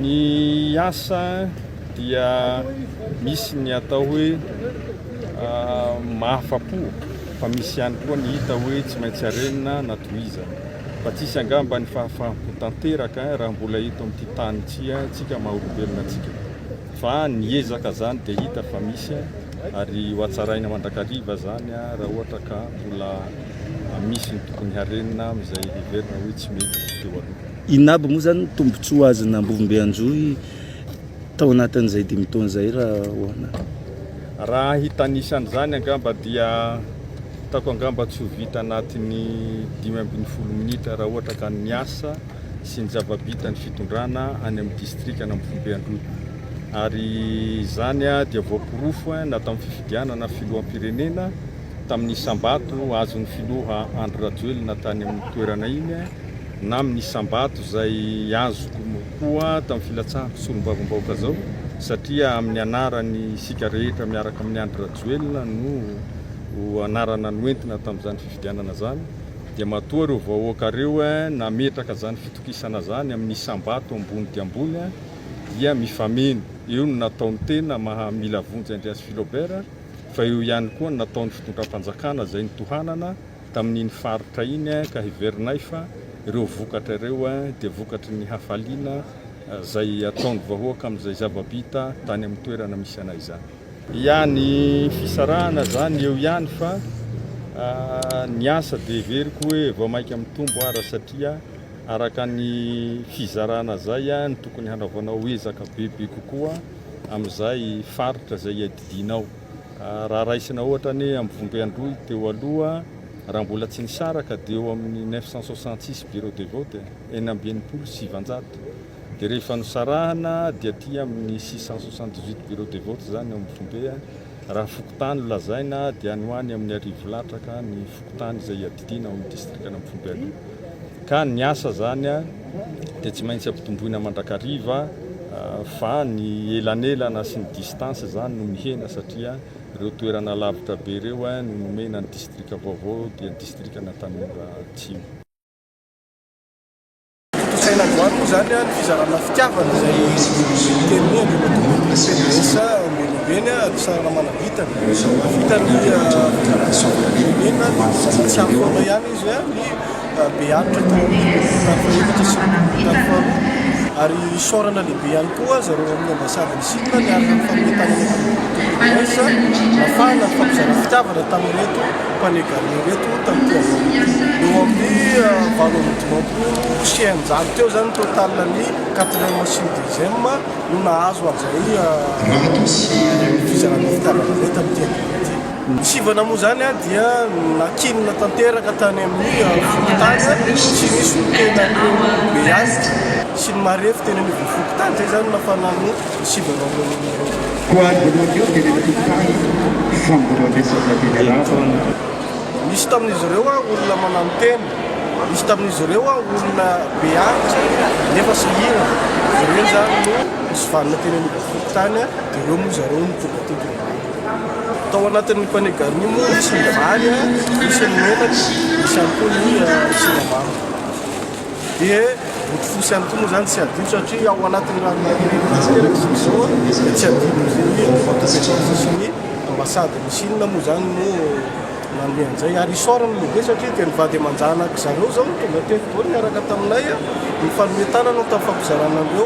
Ny asa dia misy ny atao hoe mahafa-po fa misy ihany koa ny hita hoe tsy maintsy arenina na tohizana. Fa tsisy angamba ny fahafaham-po tanteraka raha mbola eto amin'ity tany ity tsika maha olombelona tsika. Fa ny ezaka izany dia hita fa misy ary ho hatsaraina mandrakariva izany raha ohatra ka mbola misy ny tokony harenina amin'izay heverina hoe tsy mety teo aloha. Inona aby moa izany ny tombontsoa azon'ny Ambovombe Anjohy tao anatin'izay dimy taona izay raha ahoana? Raha hitanisa an'izany angamba dia hitako angamba tsy ho vita anatin'ny dimy ambin'ny folo minitra raha ohatra ka ny asa sy ny zava-bita ny fitondrana any amin'ny distrikan'Ambovombe Anjohy. Ary izany dia voaporofo na tamin'ny fifidianana filoham-pirenena tamin'ny isam-bato azon'ny filoha Andry Rajoelina tany amin'ny toerana iny, na amin'ny isam-bato izay azoko koa tamin'ny filatsahako solombavambahoaka izao satria amin'ny anarany isika rehetra miaraka amin'i Andry Rajoelina no anarana noentina tamin'izany fifidianana izany dia matoa ireo vahoaka ireo nametraka izany fitokisana izany amin'ny isam-bato ambony dia ambony dia mifameno eo no nataon'ny tena maha mila vonjy Andriasifilaobert fa eo ihany koa ny nataon'ny fitondram-panjakana izay nitohanana tamin'iny faritra iny ka heverinay fa ireo vokatra ireo dia vokatry ny hafaliana izay ataon'ny vahoaka amin'izay zava-bita tany amin'ny toerana misy anay izany. Ia ny fisarahana izany eo ihany fa ny asa dia heveriko hoe vao mainka mitombo ara satria araka ny fizarana izay no tokony hanaovanao ezaka bebe kokoa amin'izay faritra izay iadidianao. Raha raisina ohatra anie amin'ny Vombe Androy teo aloha, raha mbola tsy nisaraka dia eo amin'ny neuf cent soixante six bureaux de vote, enina amby enimpolo sy sivanjato, dia rehefa nosarahana dia aty amin'ny six cent soixante dix huit bureaux de vote izany ao amin'ny Vombe, raha fokontany no lazaina dia any ho any amin'ny arivo latraka ny fokontany izay iadiana. Fiadiana ao amin'ny distrikan'Ampohibe aloha ka ny asa izany dia tsy maintsy ampitomboina mandrakariva fa ny elanelana sy ny distance izany no mihena satria ireo toerana lavitra be ireo no nomena ny distrika vaovao dia ny distrikan'Antanimora Atsimo. Tontosaina androany moa izany ny fizarana fitiavana izay teny hoe ambin'ny CDS Ambonioveny ary sarana manavitana. Vitan'ny firenena ny fizarana tsy ampy manao ihany izy ny beharitra tao amin'ny tafika sy ny tafika faharoa ary isaorana lehibe ihany koa zareo amin'ny ambasady. Sitona ny aran'ny famoretana eto Antananarivo Tompony Voice, nafahana nifampizara fitiavana tamin'ireto Pane Garou ireto tamin'ity havoana ity. Eo amin'ny valo amby dimampolo sy eninjato teo izany ny total ny quatrième sy ny deuxième no nahazo an'izay fizarana fitiavana izay tamin'ity havoana ity. Ny sivana moa izany dia nankinina tanteraka tany amin'ny fokontany ary tsy nisy niteny an'ireo lehibe azy sy ny marefo teny anivon'ny fokontany. Izay izany no nafana ny sivana ireo olona ireo. Koa voalohany teny amin'ny fokontany Fangoroandresaka teny Arabo. Nisy tamin'izy ireo olona manano tena, nisy tamin'izy ireo olona be antitra nefa sahirana. Ireo izany no nisy vanona teny anivon'ny fokontany dia ireo moa zareo no tonga teto. Tao anatin'ny panier garni moa misy ny vary, misy ny menaka, misy ihany koa ny siramamy. Dia bodofotsy ihany koa moa izany tsy adino satria ao anatin'ny ranomanin'ireny vitsy kely aky izao dia tsy adino izay hoe ny vata-petra ny sasany ambasady ny Chine moa izany no nanome an'izay. Ary isaorana ny lehibe satria dia ny vady aman-janak'izareo izao no tonga teto daholo niaraka taminay, nifanome tanana tamin'ny fampizarana an'ireo.